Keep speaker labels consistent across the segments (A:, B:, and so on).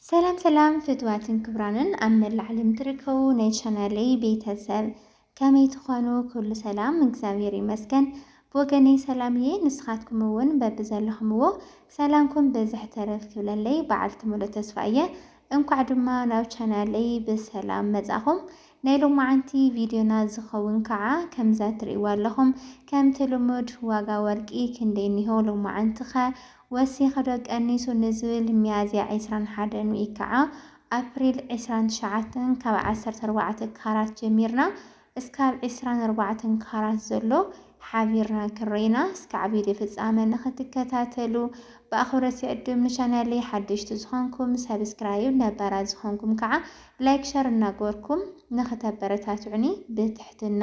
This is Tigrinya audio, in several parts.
A: ሰላም ሰላም ፍትዋትን ክብራንን ኣብ መላእ ዓለም ትርከቡ ናይ ቻናለይ ቤተሰብ ከመይ ትኾኑ? ኩሉ ሰላም እግዚኣብሔር ይመስገን። ብወገነይ ሰላም እየ። ንስኻትኩም እውን በብዘለኹምዎ ሰላምኩም ብዝሕ ተረፍ ክብለለይ በዓልቲ ሙሉእ ተስፋ እየ። እንኳዕ ድማ ናብ ቻናለይ ብሰላም መጻኹም። ናይ ሎማዓንቲ ቪድዮና ዝኸውን ከዓ ከምዛ ትርእይዋ ኣለኹም ከምቲ ልሙድ ዋጋ ወርቂ ክንደይ እኒሆ ሎማዓንቲኸ ወሲኽዶ ቀኒሱ ንዝብል ሚያዝያ ዕስራን ሓደን ውይ ከዓ ኣፕሪል ዕስራን ትሽዓተን ካብ ዓሰርተ ኣርባዕተ ካራት ጀሚርና እስካብ ዕስራን ኣርባዕተን ካራት ዘሎ ሓቢርና ክንርኢና እስካዕ ቪድዮ ፍፃመ ንክትከታተሉ ብኣኽብሮት ይዕድም ንቻናለይ ሓደሽቲ ዝኾንኩም ሰብስክራይብ ነባራት ዝኾንኩም ከዓ ላይክ ሸር እናገበርኩም ንክተበረታትዑኒ ብትሕትና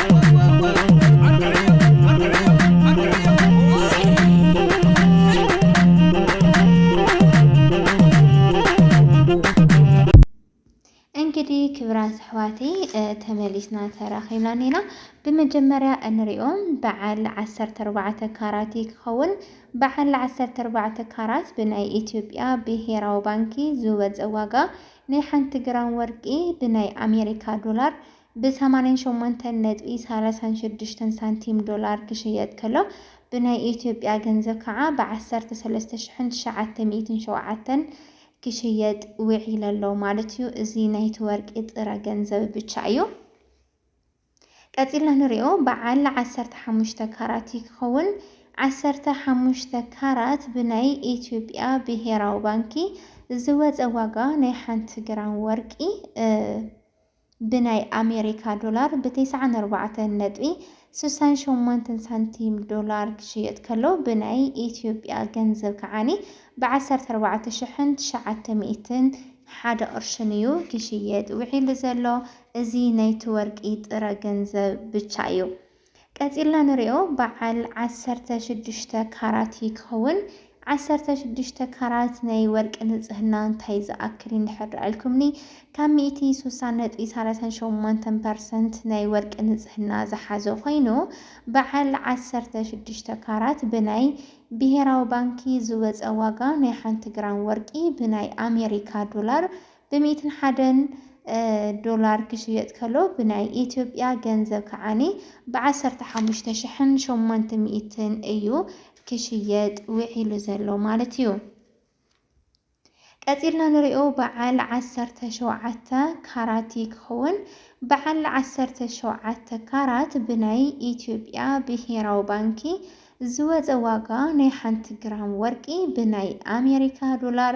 A: እንግዲህ ክብራት ኣሕዋቲ ተመሊስና ተራኺብና ኔና ብመጀመርያ እንሪኦም በዓል ዓሰርተ ኣርባዕተ ካራት ክኸውን በዓል ዓሰርተ ኣርባዕተ ካራት ብናይ ኢትዮጵያ ብሄራዊ ባንኪ ዝወፀ ዋጋ ናይ ሓንቲ ግራም ወርቂ ብናይ ኣሜሪካ ዶላር ብ ሰማንያን ሸሞንተን ነጥቢ ሳላሳን ሽዱሽተን ሳንቲም ዶላር ክሽየጥ ከሎ ብናይ ኢትዮጵያ ገንዘብ ከዓ ብ ዓሰርተ ሰለስተ ሽሕን ትሽዓተ ሚእትን ሸውዓተን ክሽየጥ ውዒለ ኣሎ ማለት እዩ። እዚ ናይቲ ወርቂ ጥረ ገንዘብ ብቻ እዩ። ቀፂልና ንሪኦ በዓል ዓሰርተ ሓሙሽተ ካራት እዩ ክኸውን። ዓሰርተ ሓሙሽተ ካራት ብናይ ኢትዮጵያ ብሄራዊ ባንኪ ዝወፀ ዋጋ ናይ ሓንቲ ግራም ወርቂ ብናይ ኣሜሪካ ዶላር ብ ተስዓን ኣርባዕተን ነጥቢ ስሳን ሸሞንተን ሳንቲም ዶላር ክሽየጥ ከሎ ብናይ ኢትዮጵያ ገንዘብ ከዓኒ ብ ዓሰርተ ኣርባዕተ ሽሕን ትሽዓተ ሚእትን ሓደ ቅርሽን እዩ ክሽየጥ ውዒሉ ዘሎ እዚ ናይቲ ወርቂ ጥረ ገንዘብ ብቻ እዩ። ቀጺልና ንሪኦ በዓል ዓሰርተ ሽዱሽተ ካራት እዩ ክኸውን። ዓሰርተ ሽዱሽተ ካራት ናይ ወርቂ ንጽህና እንታይ ዝኣክል እዩ እንድሕር ርኣልኩምኒ ካብ ሚእቲ ስሳ ነጥቢ ሰላሳን ሸሞንተን ፐርሰንት ናይ ወርቂ ንጽህና ዝሓዘ ኮይኑ በዓል ዓሰርተ ሽዱሽተ ካራት ብናይ ብሄራዊ ባንኪ ዝወጸ ዋጋ ናይ ሓንቲ ግራም ወርቂ ብናይ ኣሜሪካ ዶላር ብሚእትን ሓደን ዶላር ክሽየጥ ከሎ ብናይ ኢትዮጵያ ገንዘብ ከዓኒ ብዓሰርተ ሓሙሽተ ሽሕን ሸሞንተ ሚእትን እዩ ክሽየጥ ውዒሉ ዘሎ ማለት እዩ። ቀጺልና ንሪኦ በዓል ዓሰርተ ሸውዓተ ካራት ክኸውን በዓል ዓሰርተ ሸውዓተ ካራት ብናይ ኢትዮጵያ ብሄራዊ ባንኪ ዝወፀ ዋጋ ናይ ሓንቲ ግራም ወርቂ ብናይ ኣሜሪካ ዶላር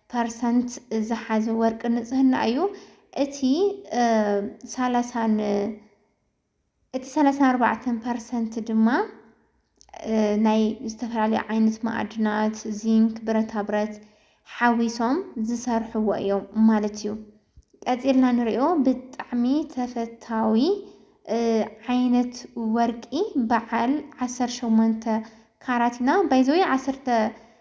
A: ፐርሰንት ዝሓዘ ወርቂ ንፅህና እዩ። እቲ ሰላሳን እቲ ሰላሳን ኣርባዕተን ፐርሰንት ድማ ናይ ዝተፈላለዩ ዓይነት ማዕድናት ዚንክ፣ ብረታ ብረት ሓዊሶም ዝሰርሕዎ እዮም ማለት እዩ። ቀፂልና ንሪኦ ብጣዕሚ ተፈታዊ ዓይነት ወርቂ በዓል ዓሰርተ ሸሞንተ ካራት ኢና ባይዘወይ ዓሰርተ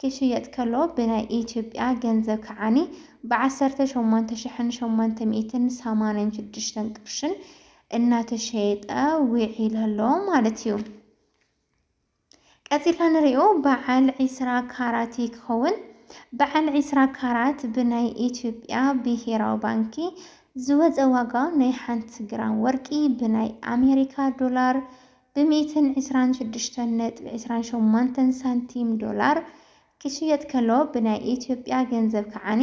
A: ኪሽየጥ ከሎ ብናይ ኢትዮጵያ ገንዘብ ከዓኒ ብዓሰርተ ሸሞንተ ሽሕን ሸሞንተ ሚእትን ሰማንያን ሽዱሽተን ቅርሽን እናተሸየጠ ዊዒሉ ኣሎ ማለት እዩ። ቀጺልና ንሪኦ በዓል ዒስራ ካራት እዩ ክኸውን። በዓል ዒስራ ካራት ብናይ ኢትዮጵያ ብሄራዊ ባንኪ ዝወፀ ዋጋ ናይ ሓንቲ ግራም ወርቂ ብናይ ኣሜሪካ ዶላር ብ ሚእትን ዕስራን ሽዱሽተን ነጥቢ ዕስራን ሸሞንተን ሳንቲም ዶላር ክሽየጥ ከሎ ብ ናይ ኢትዮጵያ ገንዘብ ከዓኒ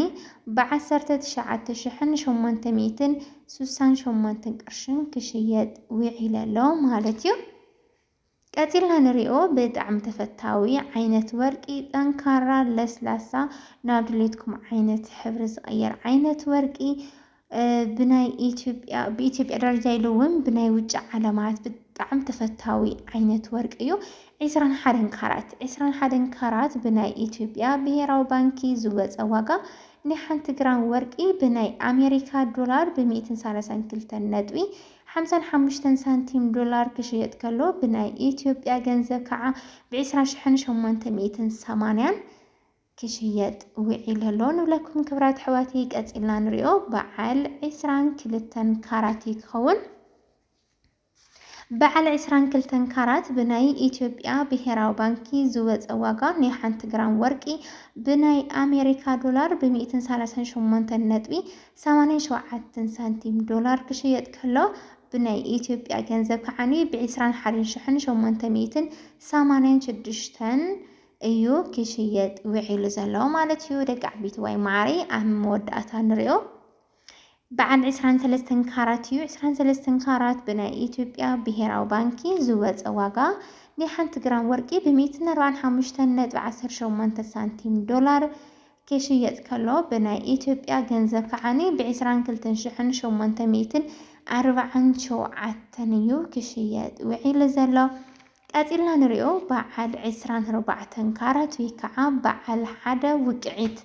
A: ብ ዓሰርተ ትሽዓተ ሽሕን ሸሞንተ ሚእትን ሱሳን ሸሞንትን ቅርሽን ክሽየጥ ዊዒለ ኣሎ ማለት እዩ። ቀጺልና ንሪኦ ብጣዕሚ ተፈታዊ ዓይነት ወርቂ ጠንካራ ለስላሳ ናብ ድሌትኩም ዓይነት ሕብሪ ዝቅየር ዓይነት ወርቂ ብናይ ኢትዮጵያ ብኢትዮጵያ ደረጃ ኢሉ እውን ብናይ ውጭ ዓለማት ብጣዕሚ ተፈታዊ ዓይነት ወርቂ እዩ። ዒስራን ሓደን ካራት ዒስራን ሓደን ካራት ብናይ ኢትዮጵያ ብሄራዊ ባንኪ ዝወፀ ዋጋ ናይ ሓንቲ ግራም ወርቂ ብናይ ኣሜሪካ ዶላር ብሚእትን ሳላሳን ክልተን ነጥቢ ሓምሳን ሓሙሽተን ሳንቲም ዶላር ክሽየጥ ከሎ ብናይ ኢትዮጵያ ገንዘብ ከዓ ብዒስራ ሽሕን ሸሞንተ ሚእትን ሰማንያን ክሽየጥ ዊዒሉ ኣሎ ንብለኩም ክብራት ኣሕዋተይ ቀጺልና ንሪኦ በዓል ዕስራን ክልተን ካራት እዩ ክኸውን በዓል ዕስራን ክልተን ካራት ብናይ ኢትዮጵያ ብሄራዊ ባንኪ ዝወፀ ዋጋ ናይ ሓንቲ ግራም ወርቂ ብናይ ኣሜሪካ ዶላር ብሚእትን ሰላሳን ሸሞንተን ነጥቢ ሰማንያን ሸውዓትን ሳንቲም ዶላር ክሽየጥ ከሎ ብናይ ኢትዮጵያ ገንዘብ ከዓኒ ብዕስራን ሓደን ሽሕን ሸሞንተ ሚእትን ሰማንያን ሽዱሽተን እዩ ክሽየጥ ውዒሉ ዘሎ ማለት እዩ ደቂ ዓቢትዋይ ማዓረይ ኣብ መወዳእታ ንሪኦ በዓል ዕስራን ሰለስተን ካራት እዩ ዕስራን ሰለስተን ካራት ብናይ ኢትዮጵያ ብሄራዊ ባንኪ ዝወፀ ዋጋ ናይ ሓንቲ ግራም ወርቂ ብሚእትን ኣርባዓን ሓሙሽተን ነጥቢ ዓሰርተ ሸሞንተ ሳንቲም ዶላር ክሽየጥ ከሎ ብናይ ኢትዮጵያ ገንዘብ ከዓኒ ብዕስራን ክልተን ሽሕን ሸሞንተ ሚእትን ኣርባዓን ሸውዓተን እዩ ክሽየጥ ውዒሉ ዘሎ ቀጺልና ንሪኦ በዓል ዕስራን ኣርባዕተን ካራት ወይ ከዓ በዓል ሓደ ውቅዒት።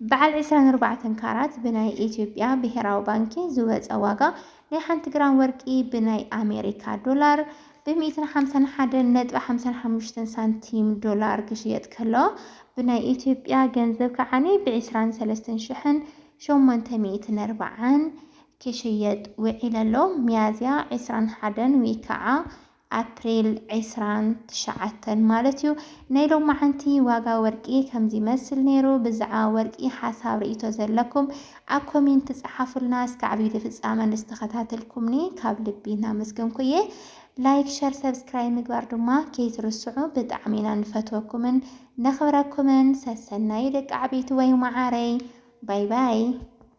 A: በዓል ዕስራን ኣርባዕተን ካራት ብናይ ኢትዮጵያ ብሄራዊ ባንኪ ዝወፀ ዋጋ ናይ ሓንቲ ግራም ወርቂ ብናይ ኣሜሪካ ዶላር ብ ሚእትን ሓምሳን ሓደን ነጥቢ ሓምሳን ሓሙሽተን ሳንቲም ዶላር ክሽየጥ ከሎ ብናይ ኢትዮጵያ ገንዘብ ከዓኒ ብ ዕስራን ሰለስተን ሽሕን ሸሞንተ ሚእትን ኣርባዓን ክሽየጥ ውዒሉ ኣሎ። ሚያዝያ ዕስራን ሓደን ወይ ከዓ ኣፕሪል ዕስራን ትሽዓተን ማለት እዩ። ናይ ሎማዓንቲ ዋጋ ወርቂ ከምዚ ይመስል ነይሩ። ብዛዕባ ወርቂ ሓሳብ ሪኢቶ ዘለኩም ኣብ ኮሜንት ጸሓፉልና። እስካዕ ቪድዮ ፍጻመ ንዝተከታተልኩምኒ ካብ ልቢ እናመስገንኩ እየ። ላይክ ሸር ሰብስክራይብ ምግባር ድማ ከይትርስዑ። ብጣዕሚ ኢና ንፈትወኩምን ነክብረኩምን። ሰሰናዩ ደቂ ዓበይቲ ወይ ማዓረይ ባይ ባይ።